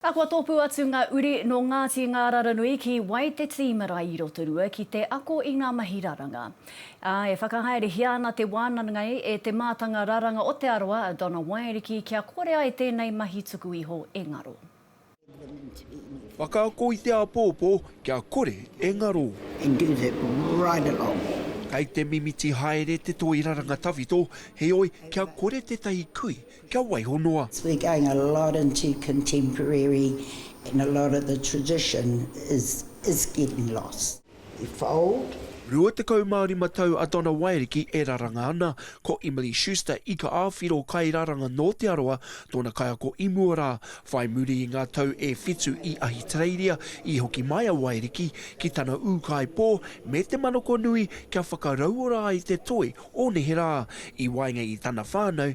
A kua tōpū atu ngā uri nō Ngāti Ngāraranui ki wai te tī marae i Rotorua ki te ako i ngā mahi raranga. Ā, e whakahaerehia ana te wānangai e te mātanga raranga o Te Arawa a Donna Waeriki kia kore ai tēnei mahi tuku iho e ngaro. Whakaako i te āpōpō kia kore e ngaro. Kei te mimiti haere te toi raranga tawhito, heoi kia kore tētahi kui kia waiho noa. We're going a lot into contemporary and a lot of the tradition is is getting lost. We fold. Rua tekau mā rima tau a Donna Waeriki e raranga ana, ko Emily Schuster ika āwhiro kairaranga nō Te Arawa tōna kaiako i mua rā. Whai muri i ngā tau e whitu i Ahitereiria, i hoki mai a Waeriki ki tana ūkaipō me te manako nui kia whakarauora ai te toi o neherā, i waenga i tana whānau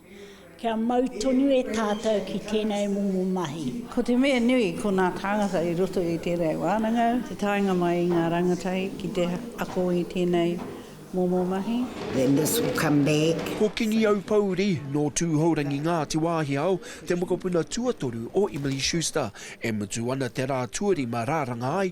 Kia mau tonu e tātou ki tēnei momo mahi. Ko te mea nui, ko ngā tāngata i roto i tēnei wānanga te taenga mai i ngā rangatahi ki te ako i tēnei momo mahi. Then this will come back. Ko Kingi Aupouri, nō Tūhourangi Ngāti Wāhiao, te mokopuna tuatoru o Emily Schuster, e mutu ana te rā tuarima rāranga ai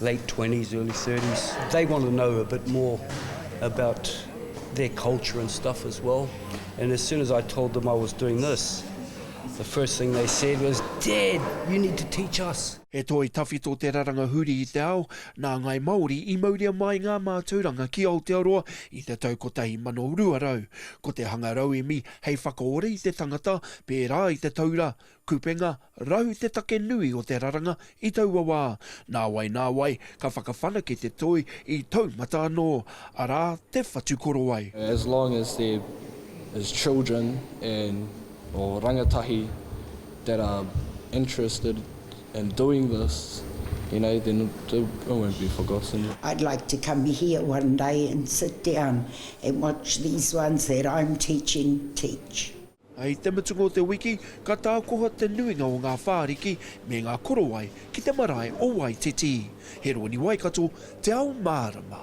late twenties, early thirties, they want to know a bit more about their culture and stuff as well, and as soon as I told them I was doing this, the first thing they said was, Dad, you need to teach us! He toi tawhito te raranga huri i te ao, nā Ngāi Māori i mauria māi ngā mātauranga ki Aotearoa i te tau 1200. Ko te hanga rauemi hei whakaora i te tangata, pērā i te taura, kupenga, Rahu te take nui o te raranga i taua wā. Nāwai nāwai, ka whakawhanake te toi i taumata anō, arā, te whatukorowai. As long as there is children and or rangatahi that are interested in doing this, you know, then it won't be forgotten. I'd like to come here one day and sit down and watch these ones that I'm teaching teach. I te mutunga o te wiki, ka tākoha te nuinga o ngā whāriki me ngā korowai ki te marae o Waititi. He rōni Waikato te ao mārama.